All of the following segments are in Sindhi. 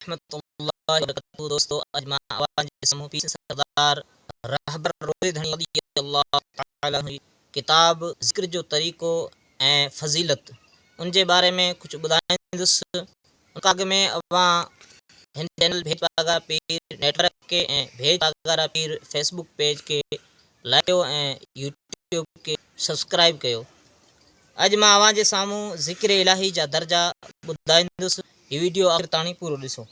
ورحمة الله وبرڪاته دوستو اڄ مان اوهان جي سامهون پير سردار رهبر روهي ڌڻي رضي الله تعالي عنه جي ڪتاب ذڪر جو طريقو ۽ فضيلت ان جي باري ۾ ڪجهه ٻڌائيندس ان کان اڳ ۾ اوهان هن چينل ڀيڄ پاڳارا پير نيٽ ورڪ کي ۽ ڀيڄ Pagara Pir Facebook page کي لائيو ۽ يوٽيوب کي سبسڪرائيب ڪيو اڄ مان اوهان جي سامهون ذڪر الاهي جا درجا ٻڌائيندس هي ويڊيو آخر تاڻي پورو ڏسو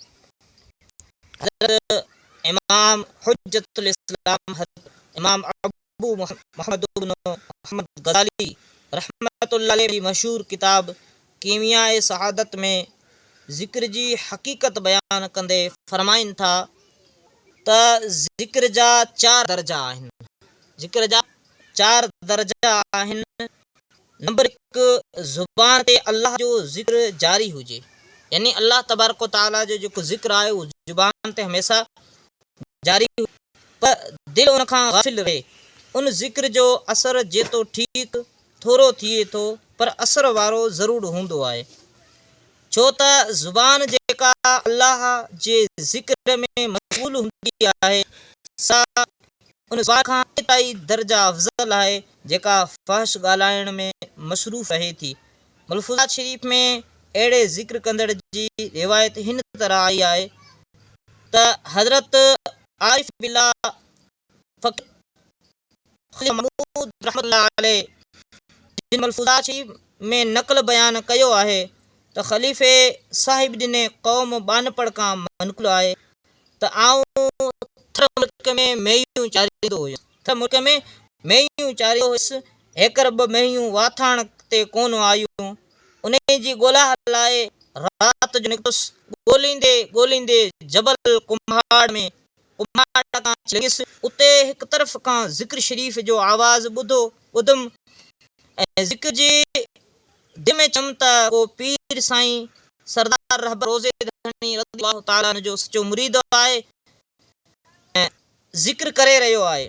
حضرت امام حجت الاسلام حضرت امام ابو محمد بن محمد غزالي رحمة الله عليه جي مشهور ڪتاب ڪيمياء سعادت ۾ ذڪر جي حقيقت بيان ڪندي فرمائن ٿا ته ذڪر جا چار درجا آهن، ذڪر جا چار درجا آهن، نمبر هڪ زبان تي الله جو ذڪر جاري هجي، يعني الله تبارڪ و تعاليٰ جو جيڪو ذڪر آهي اهو زبان تي هميشه جاري هجي پر دل ان کان غافل رهي، ان ذڪر جو اثر جيتو ٺيڪ ٿورو ٿئي ٿو پر اثر وارو ضرور هوندو آهي ڇو ته زبان جيڪا الله جي ذڪر ۾ مشغول هوندي آهي سا ان زبان کان ڪيترائي درجا افضل آهي جيڪا فحش ڳالهائڻ ۾ مصروف رهي ٿي. ملفوظات شريف ۾ اهڙي ذڪر ڪندڙ جي روايت هن طرح آئي آهي ته حضرت عارف بالله فقير خليل محمود رحمة الله عليه جن ملفوظات شي ۾ نقل بيان ڪيو آهي ته خليفي صاحب ڏني قوم ٻانهپڙ کان منقول آهي ته آئون ٿر ملڪ ۾ مينهيون چاريندو هيس ٿر ملڪ ۾ مينهيون چاريندو هيس هيڪر ٻه مينهيون واٿاڻ تي ڪونه آيون انهي جي ڳولا لاء رات جو نڪتس ڳوليندي ڳوليندي جبل ڪنڀاڙ ۾ اماٽا تان لنگھيس، اتي هڪ طرف کان ذڪر شريف جو آواز ٻڌو ٻڌم ۽ ذڪر جي دل ۾ چيم ته ڪو پير سائين سردار رهبر روضي ڌڻي رضي الله تعالٰي عنه جو سچو مريد آهي ۽ ذڪر ڪري رهيو آهي،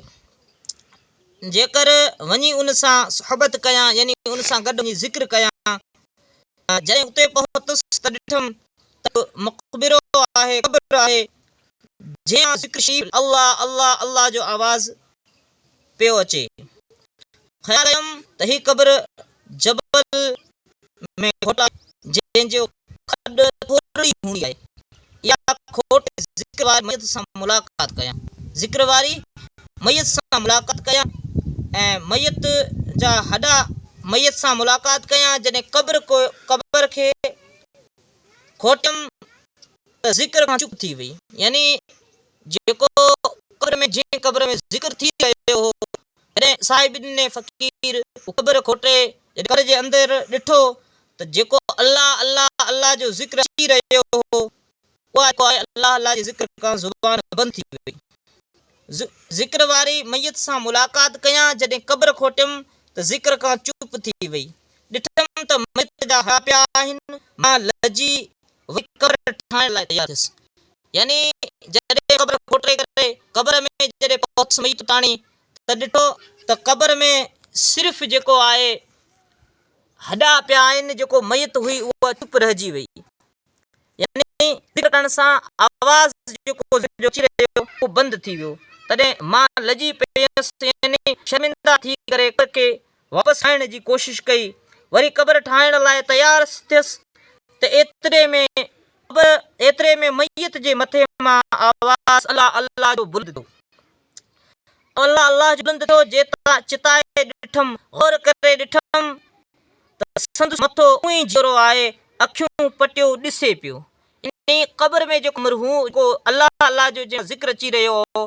جيڪر وڃي ان سان صحبت ڪيان يعني ان سان گڏ وڃي ذڪر ڪيان ته جڏهن اتي پهتس ته ڏٺم ته مقبرو آهي، قبر آهي، جنهن مان ذڪر شريف الله الله الله جو آواز پيو اچي. خيال ڪيم ته هي قبر جبل ۾ کوٽ آهي جنهن جو کڏ ٿورڙي ئي هوندي آهي. اها کوٽ ذڪر واري ميت سان ملاقات ڪيان ذڪر واري ميت سان ملاقات ڪيان ۽ ميت جا هڏا ميت سان ملاقات ڪيان جڏهن قبر قبر کي کوٽيم ته ذڪر کان چپ ٿي وئي يعني جيڪو قبر ۾ جنهن قبر ۾ ذڪر ٿي رهيو هو جڏهن صاحبدين فقير هو قبر کوٽي جڏهن قبر جي اندر ڏٺو ته جيڪو الله الله الله جو ذڪر اچي رهيو هو اها جيڪو آهي الله الله جي ذڪر کان زبان بند ٿي وئي ذڪر واري ميت سان ملاقات ڪيان جڏهن قبر کوٽيم ته ذڪر کان چپ ٿي وئي ڏٺم ته ميت جا هاڙا پيا آهن مان لجي وئي قبر ٺاهڻ لاء تيار ٿيس. يعني جڏهن قبر کوٽري ڪري قبر ۾ جڏهن پهتس ميت تاڻي ته ڏٺو ته قبر ۾ صرف جيڪو آهي هڏا پيا آهن جيڪو ميت هئي اها چپ رهجي وئي يعني ذڪر ڪرڻ سان آواز جيڪو اچي رهيو اهو بند ٿي ويو تڏهن مان لڄي پيس يعني شرمنده ٿي ڪري قبر کي واپس آڻڻ جي ڪوشش ڪئي وري قبر ٺاهڻ لاء تيار ٿيس ته ايتري ۾ قبر ايتري ۾ ميت جي مٿي مان آواز الله الله جو بلند ٿيو الله الله جو بلند ٿيو جيتا چتائي ڏٺم غور ڪري ڏٺم ته سندس مٿو اونئي جيئرو آهي اکيون پٽيو ڏسي پيو يعني قبر ۾ جيڪو مرحوم جيڪو الله الله جو جنهن جو ذڪر اچي رهيو هو،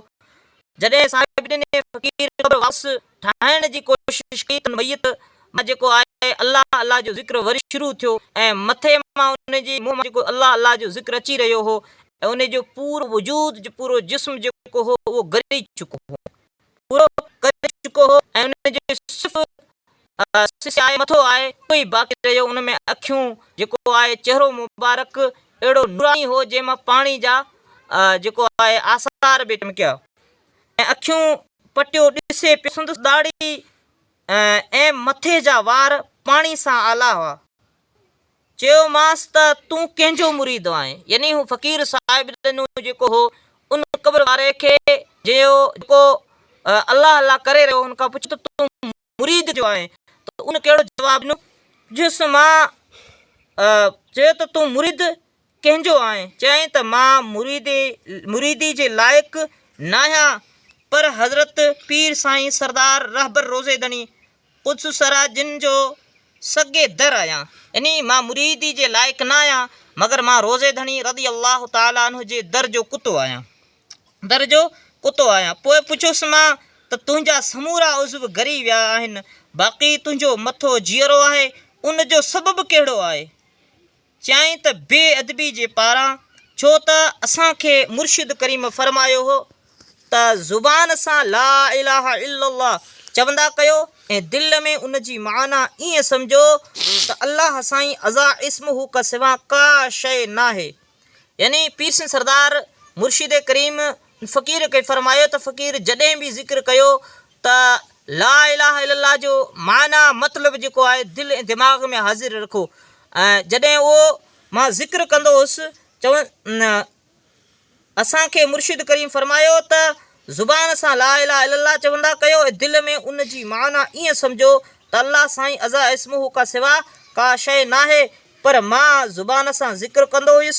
جڏهن صاحب ڏني فقير قبر واپس ٺاهڻ جي ڪوشش ڪئي ته ان ميت مان جيڪو آهي الله الله جو ذڪر وري شروع ٿيو ۽ مٿي مان ان جي منهن مان جيڪو الله الله جو ذڪر اچي رهيو هو ۽ ان جو پورو وجود پورو جسم جيڪو هو اهو ڳري چڪو هو. پورو ڪري چڪو هو ۽ ان جو صرف سسي آء مٿو آء اهو ئي باقي رهيو، ان ۾ اکيون جيڪو آء چهرو مبارڪ اهڙو نوراني هو جنهن مان پاڻي جا جيڪو آء آثار به چمڪيا ۽ اکيون پٽيو ڏسي پيو سندس ڏاڙهي ۽ مٿي جا وار پاڻي سان آلا هئا چيومانس ته تون ڪنهن جو مريد آهين؟ يعني هو فقير صاحب ڏنو جيڪو هو ان قبر واري کي جيڪو الله الله ڪري رهيو هو ان کان پڇ ته تون مريد ڪنهن جو آهين؟ ته ان ڪهڙو جواب ڏنو؟ چيس مان چيو ته تون مريد ڪنهن جو آهين؟ چيائين ته مان مريدي جي لائق ناهيان پر حضرت پير سائين سردار رهبر روضي ڌڻي قدس سرا جن جو سگي در آهيان. يعني مان مريدي جي لائق ناهيان مگر مان روضي ڌڻي رضي الله تعالٰي عنه جي در جو ڪتو آهيان. در جو ڪتو آهيان. پوء پڇيس مان ته تنهنجا سمورا عضو ڳري ويا آهن باقي تنهنجو مٿو جيئرو آهي ان جو سبب ڪهڙو آهي؟ چيائين ته بي ادبي جي پاران ڇو ته اسان کي مرشد ڪريم فرمايو هو ته زبان سان لا اله الا الله چوندا ڪيو ۽ دل ۾ ان جي معنيٰ ائين سمجهو ته الله سائين ازا اسمه ڪسوا ڪا شيء ناهي يعني پيرسين سردار مرشد ڪريم فقير کي فرمايو ته فقير جڏهن به ذڪر ڪيو ته لا اله الا الله جو معنيٰ مطلب جيڪو آهي دل ۽ دماغ ۾ حاضر رکو ۽ جڏهن اهو مان ذڪر ڪندو هوس چون اسانکي مرشد ڪريم فرمايو ته زبان سان لا اله الا الله چوندا ڪيو ۽ دل ۾ ان جي معنيٰ ائين سمجهو ته الله سائين ازا اسمه ڪا سوا ڪا شيء ناهي پر مان زبان سان ذڪر ڪندو هيس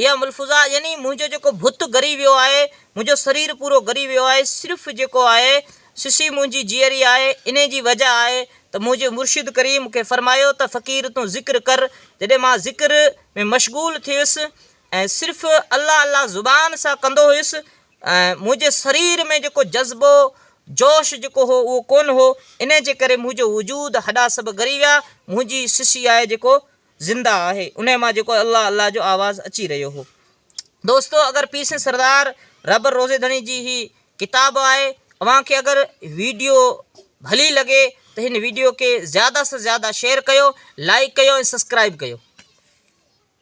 اها ملفوظا يعني منهنجو جيڪو بت ڳري ويو آهي، منهنجو سرير پورو ڳري ويو آهي، صرف جيڪو آهي سسي منهنجي جيئري آهي، انهي جي وجه آهي ته منهنجي مرشد ڪريم مون کي فرمايو ته فقير تون ذڪر ڪر، جڏهن مان ذڪر ۾ مشغول ٿيس ۽ صرف الله الله زبان سان ڪندو هيس ۽ منهنجي سرير ۾ جيڪو جذبو جوش جيڪو هو اهو ڪونه هو، انهي جي ڪري منهنجو وجود هڏا سڀ ڳري ويا، منهنجي سسي آهي جيڪو. زنده آهي انهي مان جيڪو الله الله جو آواز اچي رهيو هو دوستو اگر پير سنڌ سردار رهبر روضي ڌڻي جي هي ڪتاب آهي اوهان کي اگر ويڊيو ڀلي لڳي ته هن ويڊيو کي زياده سان زياده شيئر ڪيو لائڪ ڪيو ۽ سبسڪرائب ڪيو.